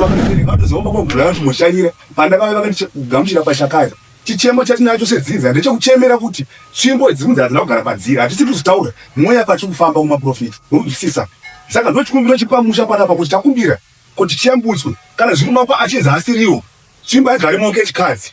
Vabereki vatozoomba kwakugara kuti moshanyira pandakave vakatigamuchira pashakaya. Chichemo chatinacho sedzinza ndechekuchemera kuti tsvimbo dzimwe dzadzina kugara padziri hatisi kuzitaura mweya patiri kufamba kumaporofita unonzwisisa saka ndochikumbiro chiri pamusha panapa kuti takumbira kuti tiyambutswe kana zviri maoko achinzi haasiriwo tsvimbo haigare maoko echikadzi.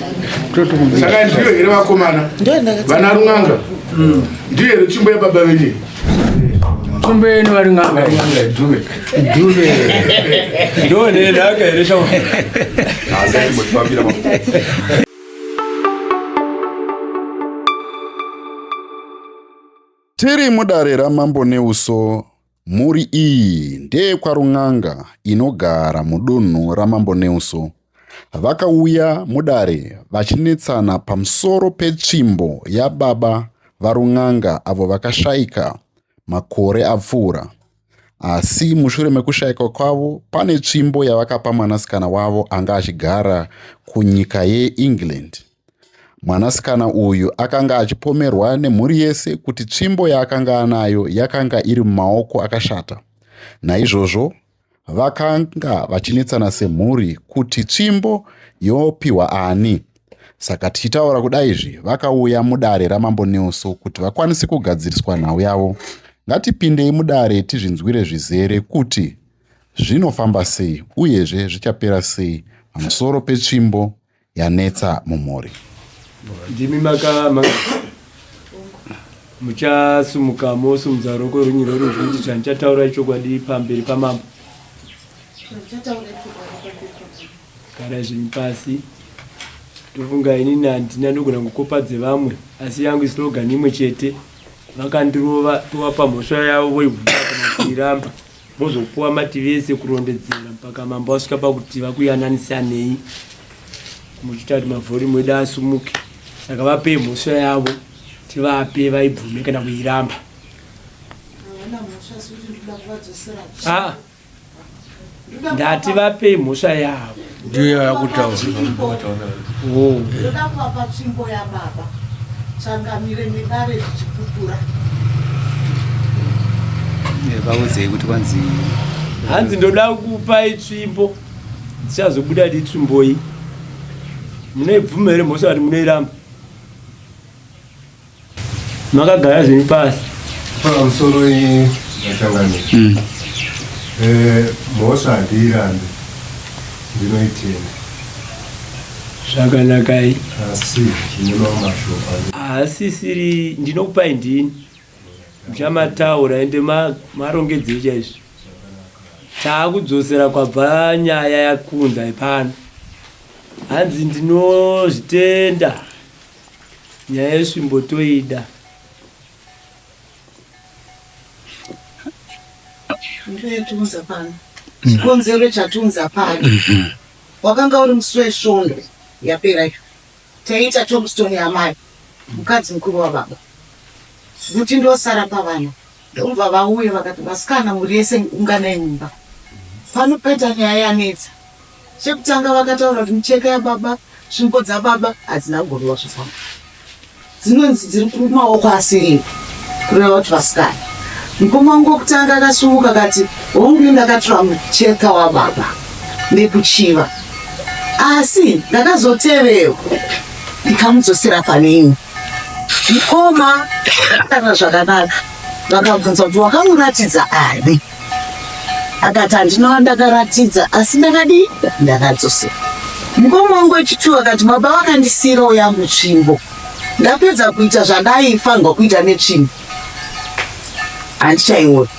saka ndiyo here vakomana vana run'anga hmm. ndiyo here tsvimbo yababa venye tsvimbo yenu vari n'anga ndonenaka here shaa tiri mudare ramambo neuso Mhuri iyi ndeyekwaRun'anga inogara mudunhu raMambo Neuso. Vakauya mudare vachinetsana pamusoro petsvimbo yababa vaRun'anga avo vakashaika makore apfuura. Asi mushure mekushaika kwavo pane tsvimbo yavakapa mwanasikana wavo anga achigara kunyika yeEngland. Mwanasikana uyu akanga achipomerwa nemhuri yese kuti tsvimbo yaakanga anayo yakanga iri mumaoko akashata. Naizvozvo vakanga vachinetsana semhuri kuti tsvimbo yopihwa ani. Saka tichitaura kuda izvi vakauya mudare raMambo Nelso kuti vakwanise kugadziriswa nhau yavo. Ngatipindei mudare tizvinzwire zvizere kuti zvinofamba sei uyezve zvichapera sei pamusoro petsvimbo yanetsa mumhuri. Ndimi maka muchasumuka mosimudza roko rwenyu rorudyi kuti chandichataura ichokwadi pamberi pamambo gara zvinhu pasi ndofunga inini handina ndogona kukopa dzevamwe asi yangu islogan imwe chete vakandirova tovapa mhosva yavo voivuaa kana kuiramba Mozopuwa mativi ese kurondedzera mpaka mambo asvika pakuti vakuyananisanei muchiita kuti mavhorimu edu asumuke. Saka vapei mhosva yavo tivape vaibvume kana kuiramba. Ah, ndati vapei mhosva yavo. ndiyo yakutaura oh. ndoda kuvapa tsvimbo yababa changamire nedare zvichipupura vaudzei kuti kwanzi hanzi ndoda kupai tsvimbo ndichazobuda di tsvimboyi munoibvuma here mhosva kuti munoiramba makagara zvenyu pasi pamusoro iyi matangano mm. eh, mhosva handiirambe ndinoitenda zvakanakai asi zvine mamwe mashoko haasisiri ndinokupai ndini muchamataura ende marongedzei chaizvo taakudzosera kwabva nyaya yakunza ipano hanzi ndinozvitenda Nyaya yesvimbo toida. Ndinoyatiunza pano. Chikonzero chatiunza pano. Mhm. Wakanga uri musi wesvondo yapera iyo. Taiita tombstone yamai mukadzi mukuru wababa. Kuti ndosara pavana. Ndobva vauya vakati vasikana muri yese unganai mumba pano peta nyaya yanetsa. Chekutanga vakataura kuti micheka yababa, svimbo dzababa hadzina kugoriwa zvifamba. Dzinonzi dziri kumaoko asiripi kureva kuti vasikana. Mukoma wangu wekutanga akasumuka akati hongu ndakatora mucheka wababa nekuchiva asi ndakazotevewo ndikamudzosera pane imwe. Mukoma kana zvakanaka vakabvunza kuti wakamuratidza ani akati handinova ndakaratidza asi ndakadii ndakadzosera mukoma wangu wechituwo akati baba vakandisiirawo yangu tsvimbo ndapedza kuita zvandaifanirwa kuita netsvimbo handichaiona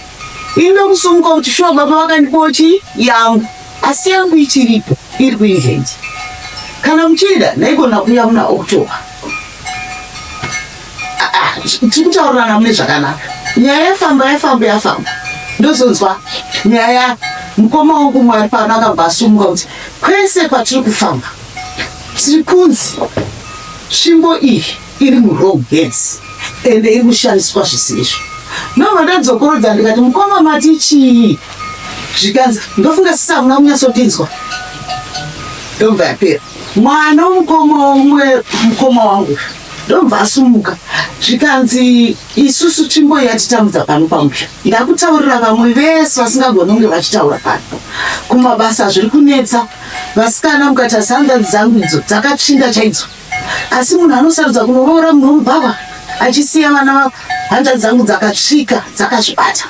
ini ndokusumuka kuti shuwa baba vakandipawo chii yangu asi yangu ichiripo iri kuinzenje kana muchida ndaigona kuya muna october tikutaurirana mune zvakanaka nyaya yafamba yafamba yafamba ndozonzwa nyaya ya mukoma wangu mwari pano akabva asumuka kuti kwese kwatiri kufamba tiri kunzi tsvimbo iyi iri murong heads ende iri kushandiswa zvisizvo ndobva ndadzokorodza ndikati mukoma mati chii zvikanzi ndofunga sisi hamuna kunyatsodinzwa ndobva yapera mwana womukoma umwe mukoma wangu ndobva asumuka zvikanzi isusu tsvimbo yatitambudza pano pamusha ndakutaurira vamwe vese vasingagoni kunge vachitaura pano kumabasa zviri kunetsa vasikana mukatarisa hanzvadzi dzangu idzo dzakatsvinda chaidzo asi munhu anosarudza kunoroora munhu womubhava achisiya vana vavo hanzvadzi dzangu dzakatsvika dzakazvibata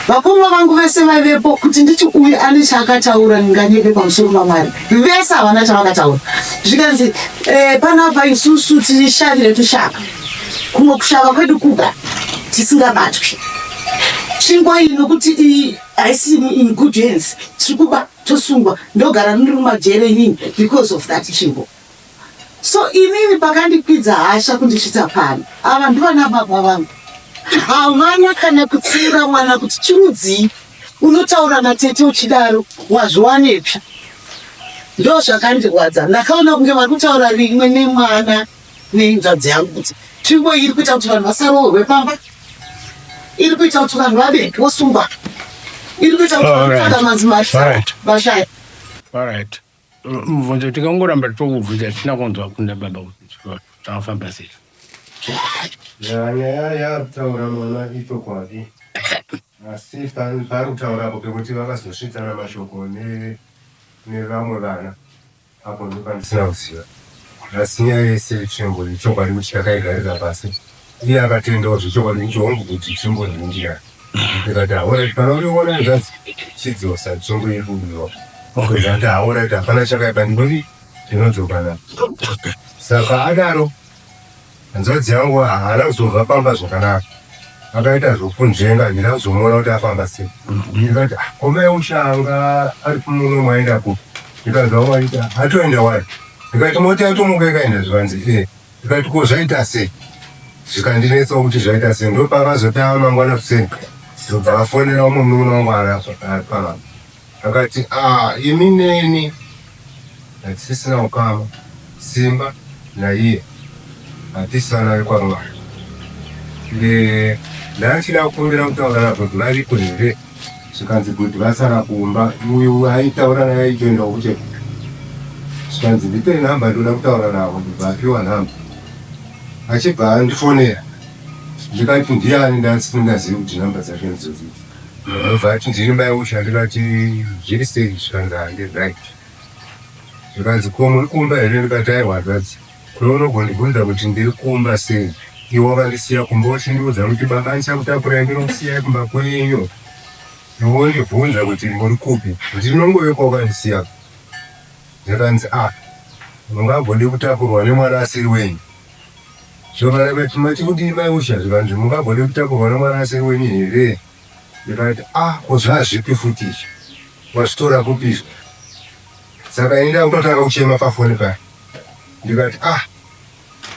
Vakoma vangu vese vaivepo kuti nditi uyu ane chaakataura ndinganyepe pamusoro pamwari vese havana chavakataura zvikanzi eh, panapa isusu tiri shari retushaka kumwe kushava kwedu kuga tisingabatwi tsvingo iyi nokuti iyi haisi in good hands tiri kuba tosungwa ndogara ndiri mumajere inini because of that tsvingo So inini pakandikwidza hasha kundisvitsa pano. Ava ndivana baba vangu. Havana kana kutsiura mwana kuti chirudzii unotaura natete uchidaro wazviwanepi. Ndozvakandirwadza. Ndakaona kunge vari kutaura rimwe nemwana nenzvadzi yangu kuti tsvimbo iri kuita kuti vanhu vasaroorwe pamba. Iri kuita kuti vanhu vave vosungwa. Iri kuita kuti vanhu vashaya. All right. mubvunzo tikangoramba tokubvunza tisina kunzwa kunda baba kuti zvakafamba sei nyaya yakutaura mwana ichokwadi asi pari kutaura apo pekuti vakazosvitsana mashoko nevamwe vana apo ndopandisina kuziva asi nyaya yese tsvimbo ichokwadi kuti takaigarira pasi Iye akatendawo zvechokwadi kuti hongu kuti chimbonhingira ndikati haoraiti kana uriona hanzvadzi chidzosa tsongo yedu uyo ndikati haoraiti hapana chakaipa ndinoti ndinodzokana saka adaro hanzvadzi yangu haana kuzobva pamba zvakanaka akaita zvokunzvenga handina kuzomuona kuti afamba sei ndikati ah, komai ushanga ari kumuno mwaenda kupi ndikanzwa waita atoenda wari ndikati moti atomuka ikaenda zvivanzi ee eh. Ndikati ko zvaita sei zvikandinetsawo kuti zvaita sei ndopavazotava mangwana kuseni ndobva vafonera umwe munin'ina wangu anga akapamama akati ah imi neni hatisisina ukama simba naiye hatisi vana vekwamwari ndanga ndichida kukumbira kutaura navo kuti variko here zvikanzi kuti vasara kumba uyu aitaura naye aitoenda kucheko zvikanzi ndipe nhamba ndoda kutaura navo ndibva apiwa nhamba achibva andifonera ndikati ndiani ndasisingazivi kuti nhamba dzake ndizozii ndobva ati ndiri mai usha ndikati zviri sei zvikanzi hande right zvikanzi ko muri kumba here ndikati aiwa zvanzi Ko unogondibvunza kuti ndiri kumba sei iwe wakandisiya kumba uchindiudza kuti baba ndichakutakurai ndinokusiyayi kumba kwenyu iwe wondibvunza kuti muri kupi ndinongove kwawakandisiya zvikanzi a mungagode kutakurwa nemwana asiri wenyu zvikanzi kuti mati kudii mai usha zvikanzi mungagode kutakurwa nemwana asiri wenyu here zvikanzi a ko zvazvipi futi izvi wazvitora kupi izvi saka ini ndakutotanga kuchema pafoni paya ndikati ah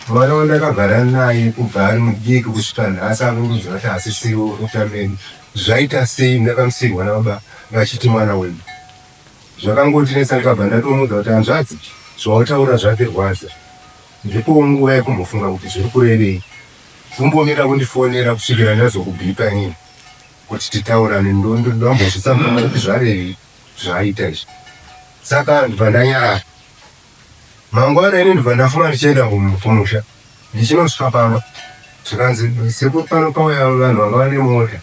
mwana wandakagara naye kubva ari mudiki kusvika nhasi akundiudza kuti hasisiwo unotameni zvaita sei ndakamusirwa nababa vachiti mwana wenyu zvakangotinetsa ndikabva ndatomuudza kuti hanzvadzi zvautaura zvandirwadza ndipowo nguva yekumbofunga kuti zviri kurevei kumbomira kundifonera kusvikira ndazokubipa inini kuti titaurane ndondambozvisamana kuti zvarevei zvaaita izvi saka ndibva ndanyarara mangwana ini ndibva ndafunga ndichienda kumusha ndichinosvika pamba zvikanzi sekuru pano pauya vanhu vanga vane mota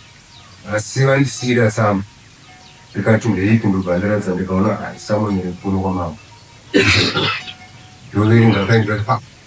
asi vandisiira samu ndikati ndeipi ndobva ndiratidza ndikaona samu iri kuno kwamambo ndoverenga kaindikati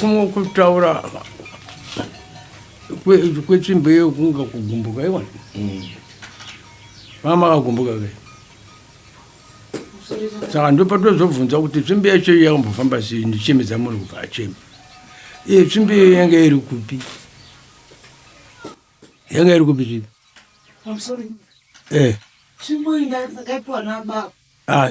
kumwe kutaura kwechimbeyo kunga kugumbuka iwani mm. mama akagumbuka ke saka ndopatozobvunza kuti tsvimbi yacho iyo yakambofamba sei ndichemedza munhu kubva acheme iye tsvimbi iyo yanga iri kupi yanga iri kupi tsvimbi eh. ah,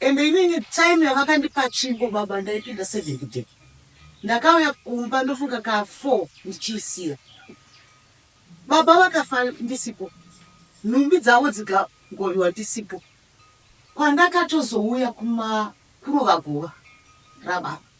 Ende inini time yavakandipa tsvimbo baba ndaipinda seven kuday ndakauya kumba ndofunga ka four ndichiisiya baba vakafa ndisipo nhumbi dzavo dzikagoriwa ndisipo kwandakatozouya kuma kurova guva rababa.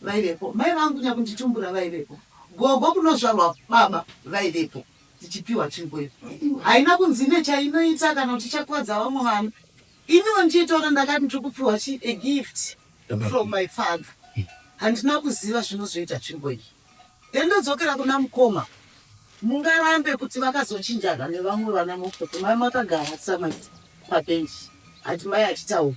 vaivepo, mai vangu nyakunditumbura vaivepo, gogo kunozvarwa baba vaivepo tichipiwa tsvimbo iyo. Haina kunzi ine chainoita kana kuti ichakuvadza vamwe vana. Iniwo ndiye taura ndakati ndiri kupiwa chii, a gift from my father. Handina kuziva zvinozoita tsvimbo iyi. Then ndodzokera kuna mukoma. Mungarambe kuti vakazochinjana nevamwe vana mukoti mai makagara samai pabench ati mai achitaura.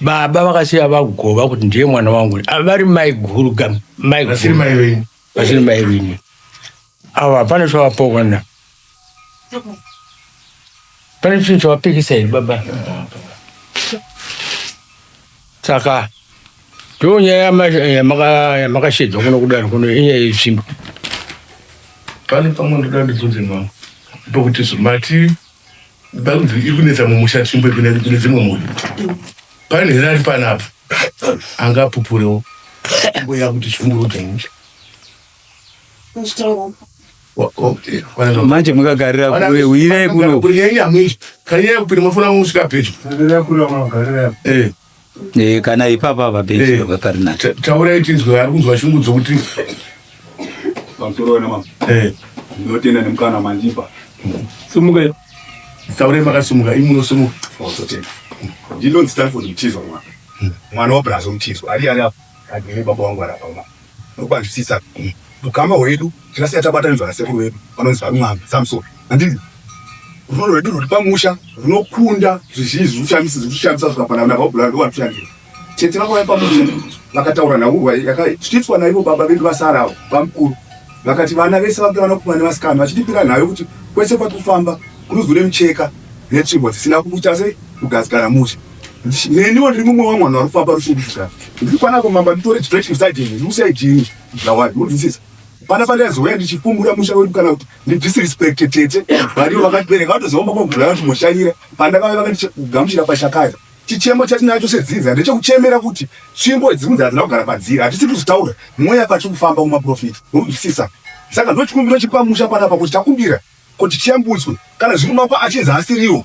baba vakasiya vagova kuti ndiye mwana wangu vari maiguru vasiri mai vini avo hapana chavapokana pane chinhu chavapikisa here baba saka ndo nyaya yamakashedzwa kuno kudaro kuno inyaya yetsvimbo pane pamwe ndoda ndibvunze mama pokuti zvimati Bhaibheri iri kunetsa mumusha tsvimbo kune dzimwe mhuri. Pane here ari panapa angapupurewo mbuya kuti chimburudzo musha. Manje mukagarira kure uyirai kuno. Kunyanya mwisho kanyaya kupinda mafona musvika pedyo. Kugarira kure munogarira. Eh. Eh, kana ipapa apa benzi Eh. baba pari nacho Ta- taurai tinzwe ari kunzwa shungu dzokuti pamusoro mama eh, ndinotenda nemukana mandipa Sumuka iwe. taurai makasimuka imi munosumuka pauzotenda ndinonzi stanford mutizwa mwana mwana wabrazvo mutizwa ari ari apa agere baba wangu ari apa mama Nokuvanzwisisa ukama hwedu, tingasvika tabatanidzwa nasekuru vedu vanonzi VaRumwanza Samson. Handiti rudo rwedu rwuri pamusha runokunda zvizhinji zviri kushamisa zviri kushamisa zvikafanana navabhurani ndovanoshandira tete vakauya pamusha vakataura nhaurwa yakatyitswa naivo baba vedu vasara avo bamukuru vakati vana vese vange vanakomana nevasikana vachitipira nhayo kuti kwese kwati kufamba kuruzu remucheka netsvimbo dzisina kubuta sei kugadzikana musha neniwo ndiri mumwe wamwe vanhu vari kufamba rushurushuka ndiri kwana kumamba nditore chidresh beside him ndiusiya jini zvawadi unzwisisa pana pandaizoya ndichifumbura musha wedu kana kuti ndidisrespect tete varivo vakatibereka vatoziva makogura vachimoshanyira pandakave vakandigamuchira pashakaya chichemo chatinacho sedzinza ndechekuchemera kuti tsvimbo dzimwe dzadzina kugara padziri hatisi kuzotaura mweya patiri kufamba kumaprofita unzwisisa saka ndochikumbiro chiri pamusha panapa kuti takumbira kuti tiyambutswe kana zviri mako achinzi asiriwo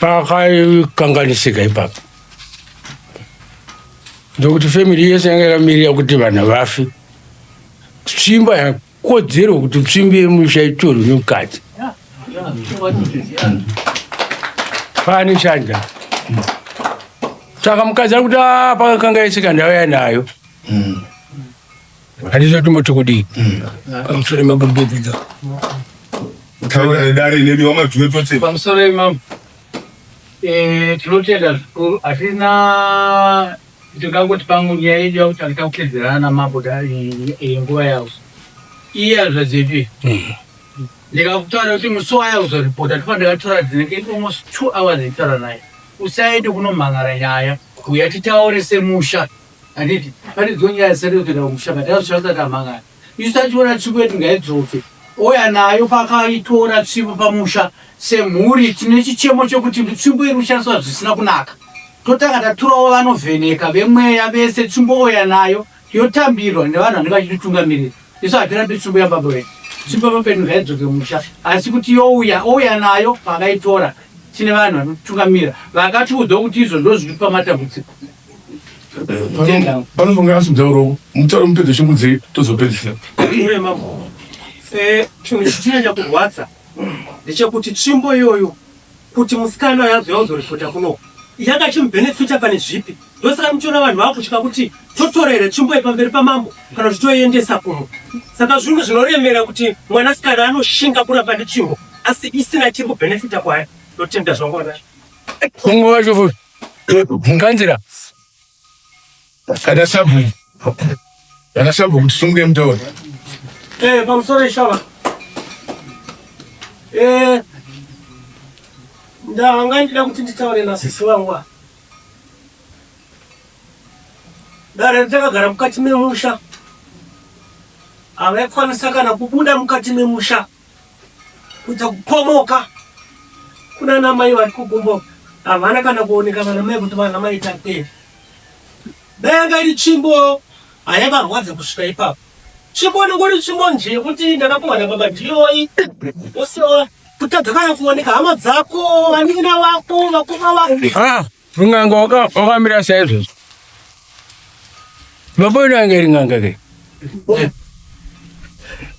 pakaikanganisika ipapo ndokuti family yese yanga yakamirira kuti vanhu vafi tsvimba yakodzero kuti tsvimbi yemusha itorwe nemukadzi pane shanja saka mukadzi ari kuti ah, pakakanga yese kandauya nayo mm. Hatizo tumoti kudii pamusoro mabumbudza taura nedare nemi wamajue tose pamusoro imam eh, tinotenda zvikuru hatina tingangoti pamwe nyaya yedu yakuti tangita kutedzerana namambo da- i- i- nguva yawo iye azvazivi ndikakutaura kuti musi waya uzoripota tofa ndakatora dzinenge almost two hours nditaura naye usaende kunomhan'ara nyaya uya titaure semusha Handiti pane dzimwe nyaya dzisati kutoenda kumusha but azotsva asati amhangana. Isu tachiona tsvimbo yedu ngaidzoke. Ouya nayo paakaitora tsvimbo pamusha semhuri tine chichemo chekuti tsvimbo iri kushandiswa zvisina kunaka. Totanga taturawo vanovheneka vemweya vese tsvimbo ouya nayo yotambirwa nevanhu vanenge vachititungamirira. Isu hatirambi tsvimbo yababa vedu. Tsvimbo yababa vedu ngaidzoke kumusha asi kuti youya ouya nayo paakaitora tine vanhu vanotitungamira vakatiudzawo kuti izvo ndozvitipa matambudziko. panofunga asi mutauro mutauro mupedze shungu dzei tozopedzisa eh, chinhu chichinyanya kurwadza ndechekuti tsvimbo iyoyo kuti musikana yazo yauzoripota kuno yakachimubhenefita pane zvipi ndosaka muchiona vanhu vakutya kuti totorere tsvimbo yepamberi pamambo kana kuti toiendesa kuno saka zvinhu zvinoremera kuti mwanasikana anoshinga kuramba netsvimbo asi isina chiri kubhenefita kwayo ndotenda zvangu vanacho kungo vacho futi Mukanzira kana sabhu kana sabhu kuti simuke mutaure. Eh, pamusoro ishava. Eh, ndanga ndida kuti nditaure nasisi wangu. Dare takagara mukati memusha. Havakwanisa kana kubuda mukati memusha. kudza kupomoka kuna namai vari kugumbo havana kana kuoneka vana mai kuti vana mai tate dai anga iri tsvimbo haivarwadza kusvika ipapo tsvimbo inenge uri tsvimbo nje yekuti ndakakumana baba ndiyoyi usiwa kutadza kana kuoneka hama dzako vanin'ina vako vakoma vako Ringanga wakamira saizvozvo. Vamboenda ange ringanga ke.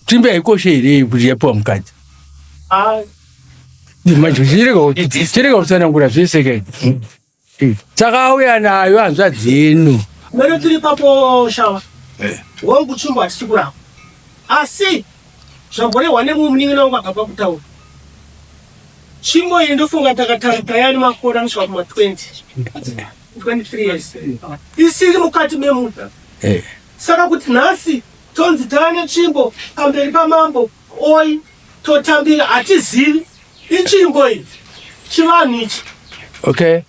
Timbe haikoshe here kuti yapiwa mukadzi? Manje chirega kutsanangura zvese ke. Takauya nayo hanzvadzi yenu. Mero tiri papo shawa. Wangu chimbo hachisi kurapa. Asi Zvamborehwa nemumwe munin'ina wangu akabva kutaura. Tsvimbo iyi ndofunga takatarika yani makore anosvika kuma 20 23 years isiri mukati memuda eh. saka kuti nhasi tonzi taane tsvimbo pamberi pamambo oi totambira hatizivi itsvimbo iyi chivanhu ichi okay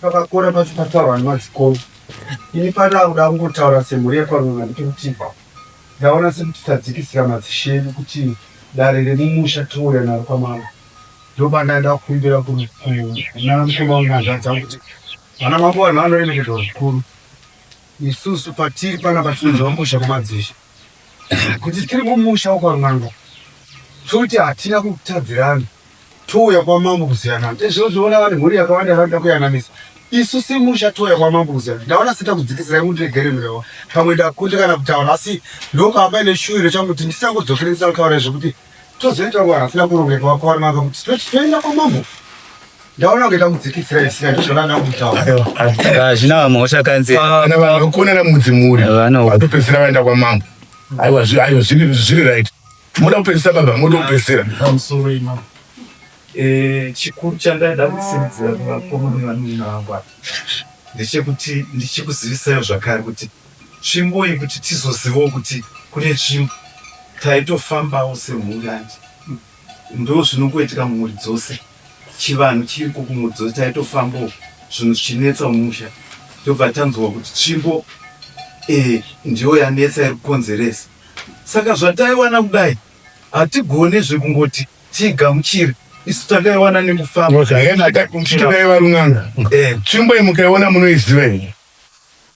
Pakakora pacho pataurwa nemadzikoro ini pandaa kuda kungotaura semhuri yekwaruva nditi kuti ndaona sekuti tadzikisira madzishe edu kuti dare remumusha tinouya naro kwamama ndopandaida kukumbira kunamukoma unyanzvadza kuti vana mambo vanhu vanoremekedzwa zvikuru isusu patiri pana patinonzi vamusha kumadzishe kuti tiri mumusha wekwan'anga toti hatina kutadzirana touya kwamambo kuziyanana ndezvozviona vanhu mhuri yakawanda yavanoda kuyananisa isu semusha touya kwamambo kuziyana ndaona sita kudzikisira imundiregere mrewa pamwe ndakundikana kutaura asi ndopamba ine shuwiro changu kuti ndisangodzokere ndisakutaura zvekuti tozoita kuva hasina kurongeka wakawari manga kuti toenda kwamambo ndaona kuita kudzikisira isira ndizvona ndakutaurahazvina vamwe ushakanzi kana vanhu vakuona namudzi muri vatopedzisira vaenda kwamambo aiwa aiwa zviri right moda kupedzisa baba moda kupedzisira eh, chikuru chandaida kusimudzira kuvakomana vangu ndechekuti ndichikuzivisai zvakare kuti Tsvimbo iyi kuti tizozivawo kuti kune tsvimbo taitofambawo semhuri hanti ndozvinongoitika mhuri dzose chivanhu chiriko kumhuri dzose taitofambawo zvinhu zvichinetsa mumusha tobva tanzwa kuti tsvimbo iyi eh, ndiyo yanetsa iri kukonzeresa saka zvataiwana kudai hatigone zvekungoti tiigamuchire isu takaiwana nekufamba zvakaenda takuchitikaivarunganga eh. tsvimbo iyi mukaiona munoiziva here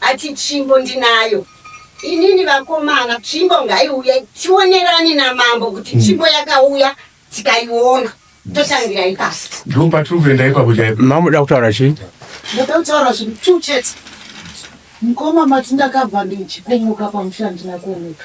Ati tsvimbo ndinayo inini vakomana tsvimbo ngaiuye tionerane namambo kuti tsvimbo yakauya tikaiona totangira ipasi. Ndipo patiri kuenda ipapo chaipo. Mama muda kutaura chii? Ndoda kutaura zvinhu two chete. Mukoma mati ndakabva ndichikumuka pamusha handina kuoneka.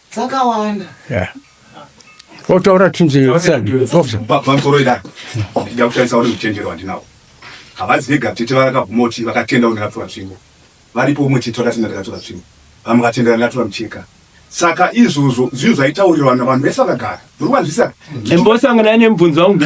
dzakawanda yeah. otaura tinzepamsoro idai ndida kushandisa uri uchenjero wandinawo havazi vega tete vakabvuma kuti vakatenda uri ndakatora tsvimbo varipo umwe tete vakatenda ndakatora tsvimbo vamwe vakatendera ndakatora mucheka saka izvozvo zvinhu zvaitaurirwana vanhu vese vakagara uri wanzwisaka imbosangana nemubvunzo wangu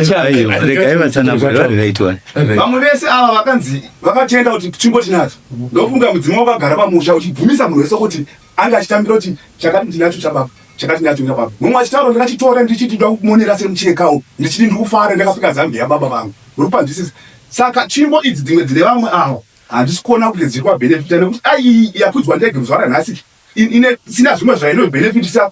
vamwe vese ava vakanzi vakatenda kuti tsvimbo tinadzo ndofunga mudzimu wakagara pamusha uchibvumisa munhu wese kuti Anga achitambira kuti chakati ndinacho chababa chakati ndinacho chababa. Mumwe achitaura ndakachitora ndichiti ndoda kumonera semuchekawo ndichiti ndiri kufara ndakapfeka zambiya yababa vangu. Muri kupanzwisisa? Saka tsvimbo idzi dzimwe dzine vamwe ava handisi kuona kuti dziri kuvabenefita nekuti dai iyi yakwidzwa ndege muzuva ranhasi ine isina zvimwe zvaino benefitisa.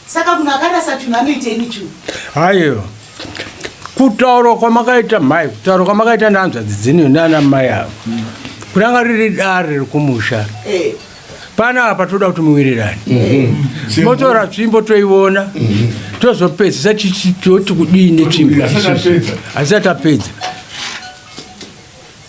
Saka munhu akarasa chinhu anoitei nechinhu? Haiwa. Kutaura kwamakaita mhai, kutaura kwamakaita nehanzvadzi dzenyu nana mai avo. Mm. Kuranga riri dare rekumusha. Eh. Pana apa toda kuti muwirirane. Mm-hmm. Motora tsvimbo toiona. Mm-hmm. Tozopedzisa tichiti kudii netsvimbo. Asi atapedza.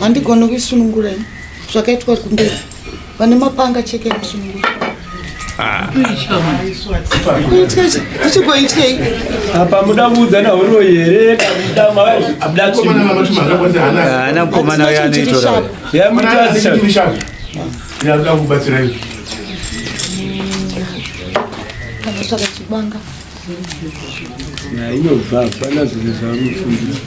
handigoni kuisunungura ini zvakaitwa kumberi vane mapanga cheke ekusunungura ndichigoityei apa muda kuudza nahuro here haana mukomana uyo anoitora yamutasha inobva hapana zvinhu zvaanofundisa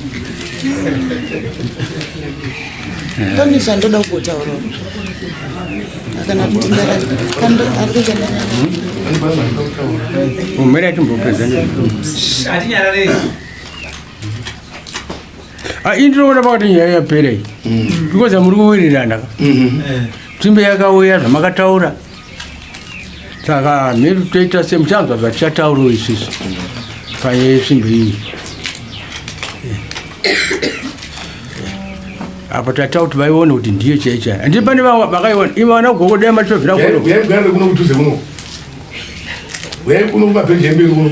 pane zvandoda kugotaura kana kuti umhere atimbopedza ah, ini ndinoona pakati nyaya yapera iyi because amuri kuwirirana ka timbe yakauya zvamakataura saka mhiri toita semuchanzwa zvatichataurawo isusu payesvimbo iyi apa tata kuti vaiona kuti ndiyo chai chai andii pane vamwe vakaiona ivo vana kugokodai matitovira kuno kudhuze muno uyai kuno kumapeji emberi kuno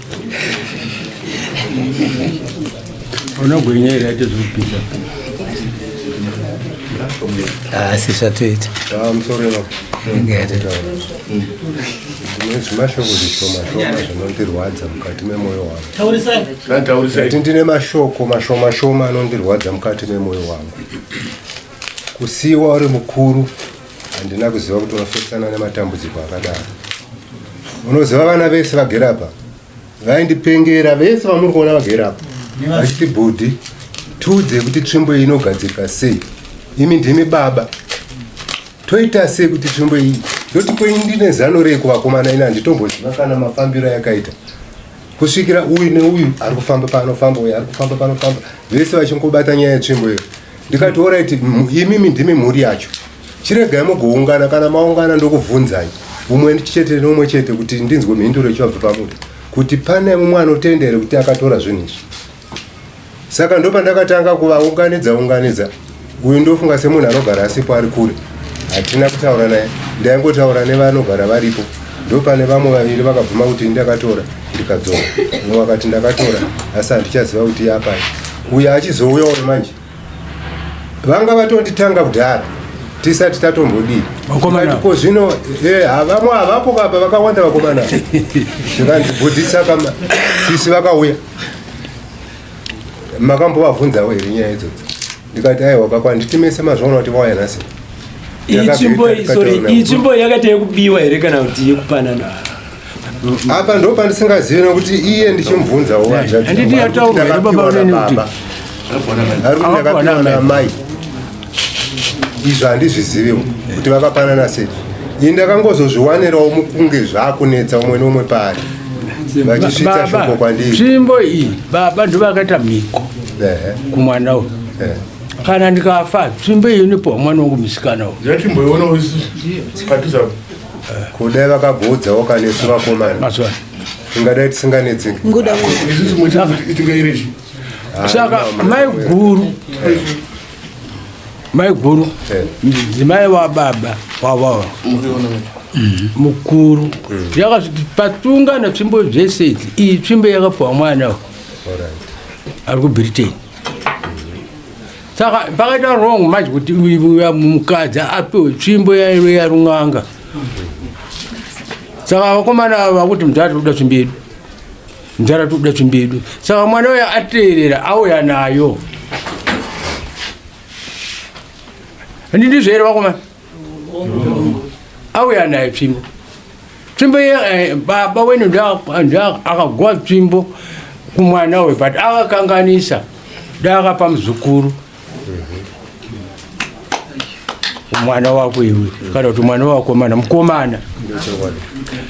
unogwinya here aite zvekupisa asi zvatoita mashoko zvishoma shoma zvinondirwadza mukati memoyo wanguati ndine mashoko mashoma shoma anondirwadza mukati memoyo wangu kusiiwa uri mukuru handina kuziva kuti wafesana nematambudziko akadaro unoziva vana vese vagere apa vaindipengera vese vamuri kuona vagere apa vachiti bhudhi tiudze kuti tsvimbo iyi inogadzirika sei imi ndimi baba toita sei kuti tsvimbo iyi yoti kwei ndine zano rei kuvakomana ini handitomboziva kana mafambiro yakaita kusvikira uyu neuyu ari kufamba panofamba uyu ari kufamba panofamba vese vachingobata nyaya yetsvimbo iyo ndikati orit imimi ndimi mhuri yacho chiregai mugoungana kana maungana ndokubvunzai umwe chete neumwe chete kuti ndinzwe mhinduro ichivabva pamuti kuti pane mumwe anotenda here kuti akatora zvinhu izvi saka ndopandakatanga kuvaunganidza unganidza uyu ndofunga semunhu anogara asipo ari kure hatina kutaura naye ndaingotaura nevanogara varipo ndopane vamwe vaviri vakabvuma kuti ndakatora ndikadzoka umwe akati ndakatora asi handichaziva kuti yapai uyo achizouya uyo manje vanga vatonditanga kudhara tisati tatombodii Vakomana. ko zvino eh, ha- vamwe havapo kapa vakawanda vakomana zvikandibudisa kama sisi vakauya makambovavhunzawo here nyaya idzodzo ndikati aiwa baba anditimese mazvaona kuti vauya nhasi iyi tsvimbo iyi sorry iyi tsvimbo iyi yakaita yekubiwa here kana kuti yekupanana apa ndo pandisingazivi nekuti iye ndichimubvunzawo handiti yataurwa here baba unene kuti arikuakapiwa naamai izvo handizviziviwo kuti vakapanana sei ini ndakangozozviwanirawo mukunge zvakunetsa umwe neumwe paari vachisvitsa shoko kwandiri tsvimbo iyi baba ndo vakaita mhiko kumwana uyu kana ndikafa tsvimbo iyi inipowa mwana wangu musikana uyu kudai vakagoudzawo kanesu vakomana tingadai tisinganetseki saka maiguru maiguru ndidzimai wababa wavava mhm. mukuru mhm. yakazviti patunga natsvimbo zvese idzi iyi tsvimbo yakapuwa mwana ari kubritain saka pakaita wrong manje kuti mukadzi apiwe tsvimbo yaive yarun'anga saka vakomana ava vakuti mudhara tiri kuda tsvimbo yedu mudhara tiri kuda tsvimbo yedu saka mwana uya ateerera auya nayo handindizvo here vakomana auya naye tsvimbo tsvimbo iye eh, baba wenu akagwa tsvimbo kumwana uyu but akakanganisa daakapa muzukuru mwana wako iwe kana kuti mwana wakomana mukomana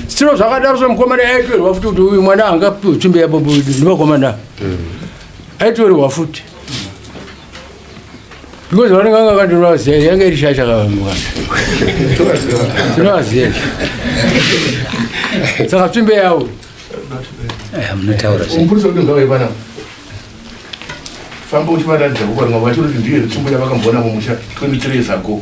siro zvakadaro zvemukomana aitorwa futi kuti uyu mwana anga tsvimbo yababunevakomana aitorwa futi because vanenge vanga vakandirova ziya yanga iri shasha kavamukana tinova ziya saka tsvimbe yavo famba uchivaratidza kuvarunga vacho kuti ndiye tsvimbo yavakamboona mumusha 23 years ago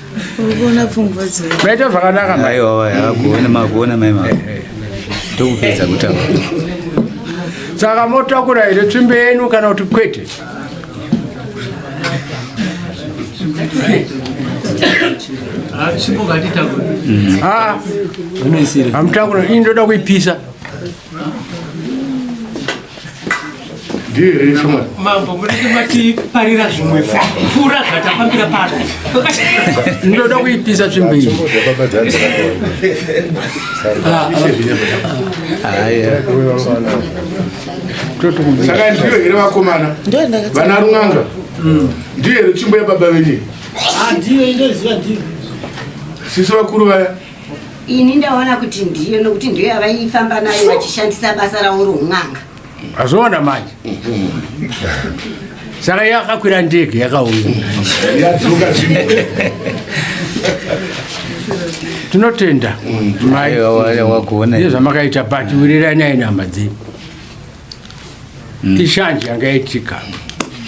Urikuona pfungwa dzedu. Maita zvakanaka mai. Aiwa waya hakuona makuona mai mama. Ndokupedza kutaura. Saka motakura here tsvimbe yenu kana kuti kwete? Ah, hamutakura ini ndoda kuipisa. ndiyo here ishoma mambo munenge matiparira zvimwe pfuura zvatafambira pano ndoda kuipisa tsvimbo iyi saka ndiyo here vakomana vana run'anga mm. ndiyo here tsvimbo yababa venye ah, ndiyo indoziva ndiyo sisi vakuru vaya ini ndaona kuti ndiyo nokuti ndiyo yavaifamba nayo vachishandisa basa ravo roun'anga azviona manje saka yakakwira ndege yakauya tinotenda mai nezvamakaita but wiriranai nehama dzenyu mm. ishanje yanga yaitika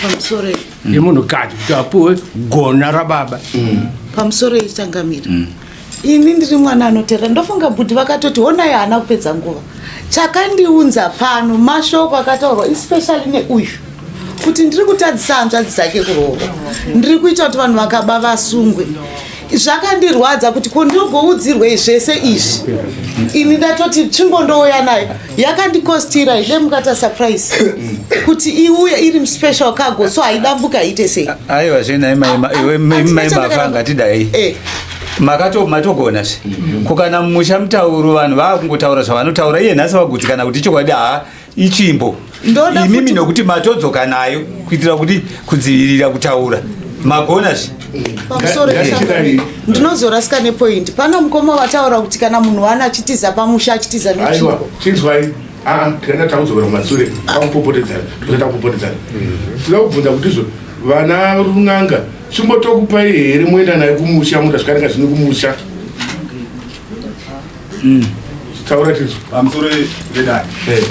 pamusoro yemunhukadzi kuti apuwe gona rababa mm. pamusoro yechangamira mm. ini ndiri mwana anoteera ndofunga bhudhi vakatoti honai haana kupedza nguva chakandiunza pano mashoko akataurwa especially neuyu kuti ndiri kutadzisa hanzvadzi dzake kuroora ndiri kuita kuti vanhu vakaba vasungwe zvakandirwadza kuti ko ndogoudzirwei zvese izvi ini ndatoti tsvimbo ndouya nayo yakandikostira ile mukata surprise kuti iuye iri muspecial cargo so haidambuka iite sei aiwa zvenai maimafa ngatidai eh. makatomatogona zve mm-hmm. kukana mumusha mutauro vanhu vakungotaura zvavanotaura iye nhasi vagutsikana kuti chokwadi haa itsvimbo imimi nokuti matodzoka nayo kuitira kuti kudzivirira kutaura magona zvi ndinozorasika nepoindi pano mukoma vataura kuti kana munhu wana achitiza pamusha achitiza netsvimbo Ah, tikaenda takudzokera kumasure takupopotedzana tikuza takupopotedzana tinoda kubvunza kuti izvo vana run'anga chimbotokupai here moenda nayo kumusha mutasvika ringa zvini kumusha Mm. Taura tizvo pamusoro vedare. Eh.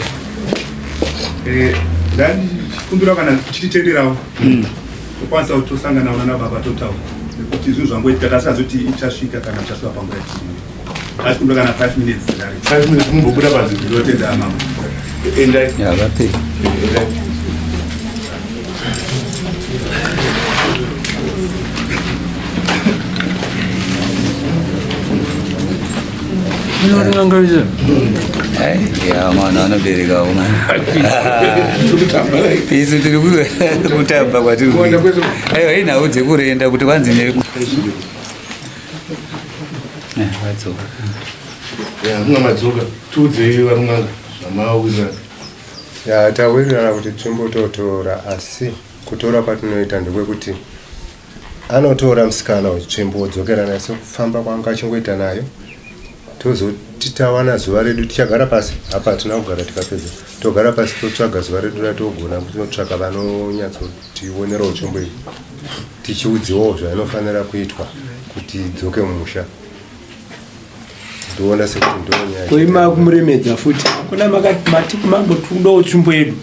Eh, dani kumbira kana kuchititenderawo. Mm. Kwanisa kutosangana na baba totaura. Nekuti zvinhu zvangoitika kasi azoti ichasvika kana chasvika panguva yatiri. Asi kumbira kana 5 minutes dare. 5 minutes kumbobuda pazvinhu zvinotenda mama. Endai. Yeah, that's it. Endai. mwana anobereka uma isu tiri kutamba kwatiri aiwa hii nhau dzekurenda kuti vanzi ne vadzoka ya mwamadzoka tiudzei varumanga zvamawirana Ya tawirirana kuti timbototora asi kutora kwatinoita ndekwekuti anotora musikana wetsvimbo wodzokera naye sekufamba kwanga achingoita nayo tozoti tawana zuva redu tichagara pasi apa hatina kugara tikapedza togara pasi totsvaga zuva redu ratogona kunotsvaga vanonyatsotionerawo tsvimbo iyi tichiudziwawo zvainofanira kuitwa kuti idzoke mumusha ndoona sekuti ndonyaya koima kumuremedza futi kuna makati mati kumambo tikudawo tsvimbo yedu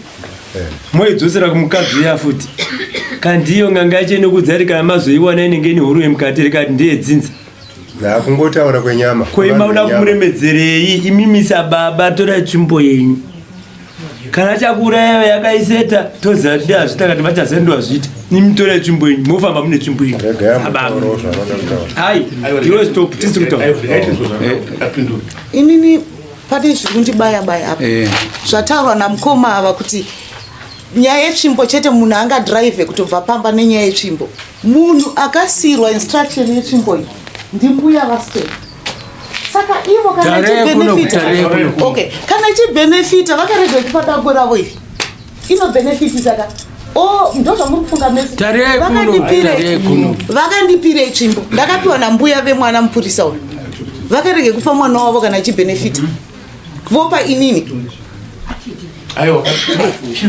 Eh. moidzosera kumukadzi uya futi kandiyo nganga yacho inokudza iri kana mazoiwana inenge ine huru yemukati rikati ndiye dzinza na kungotaura kwenyama koima Vanhu uda venyama. kumuremedzerei imimisa baba tora tsvimbo yenyu kana chakuuraya iwe yakaiseta toziva kuti ndeyazvita kana vachazira ndowazvita nimutore yetsvimbo yenyu mofamba mune tsvimbo yenyu inini pane zviri kundibaya baya apa eh. zvataurwa namukoma ava kuti nyaya yetsvimbo chete munhu angadrive kutobva pamba nenyaya yetsvimbo munhu akasiirwa instruction yetsvimbo iyi ndimbuya vastep saka ivo kana ichibenefita okay kana ichibenefita vakarega ichipa dako ravo iri inobenefiti saka Oh, vakandipira itsvimbo ndakapiwa nambuya vemwana mupurisa uyu vakarege kupa mwana wavo kana achibenefita vopa inini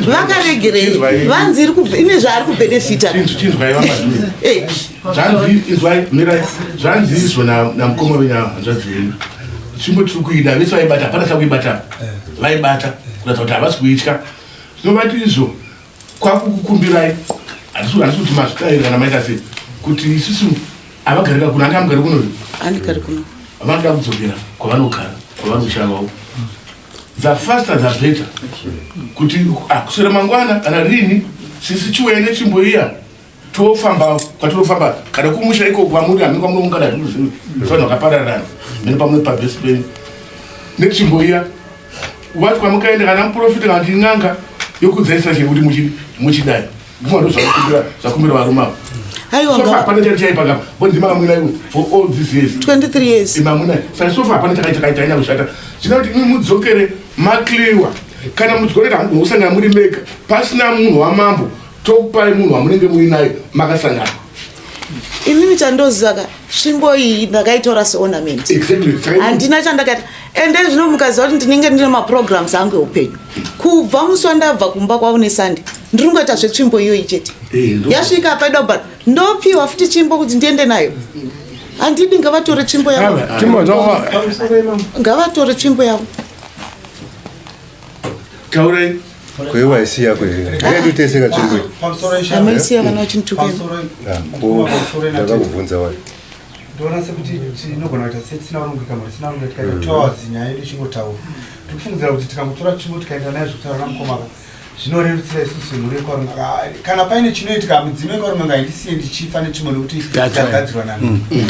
vakaregerei vanzi iri kubve ine zvaari kubenefita eh. zvanzi izvo namukoma venyu ava hanzvadzi venyu chimbo tiri kuida vese vaibata hapana chakuibata eh. vaibata kuratidza kuti havasi kuitya zvinovati izvo kwakukukumbirai handisi kuti mazvitaira kana maita sei kuti isusu avagarika kuno anga amugari kuno andigari kuno vanoda kudzokera kwavanogara kwavanoshavao the faster the better kuti akuswera ah, mangwana kana rini sisi chiwene chimboiya tofamba kwatinofamba kana kumusha iko kwamuri hameno kwamunoungana zvino zvino zvanhu vakapararana mene pamwe pabesi penyu netsvimbo iya wati kwamukaenda kana muprofita kana kuti n'anga yokudzaisa chero kuti muchidai guma ndo zvakumbira zvakumbira varume avo aiwa hapana chari chaipa kapa bondima kamwina iwe for all these years 23 years imamwina saka sofa hapana chakaita kaita ina kushata zvina kuti mudzokere makliwa kana mudzorera usangana muri mega pasina munhu wamambo Tokupai munhu wamunenge muinaye makasangana. Inini chandoziva ka svimbo iyi ndakaitora seornament. Exactly. Handina chandakaita and then zvino mukaziva kuti ndinenge ndine maprograms angu eupenyu. Kubva musi wandabva kumba kwavo neSunday ndiri kungoita zvetsvimbo iyoyi chete. Eh, Yasvika apa ida kubata ndopiwa futi tsvimbo kuti ndiende nayo. Handidi ngavatore tsvimbo yavo. Ngavatore tsvimbo yavo. taurai kwewaisi yako yakatiteseka chimweamaisi yavana vachinitukeakakuvhunza wai ndoona sekuti tinogona kuita setisina kurongeka mari tisina kurongeka tikaita mm. two hours nyaya yedu ichingotaura tikufungidzira kuti tikangotora chimwe tikaenda naye zvekutaura namukomaka zvinorerutsira isusu mhuri yekwarume ah, kana paine chinoitika mudzimu yekwarume ngaindisiye ndichifa nechimwe nekuti chagadzirwa nani mm.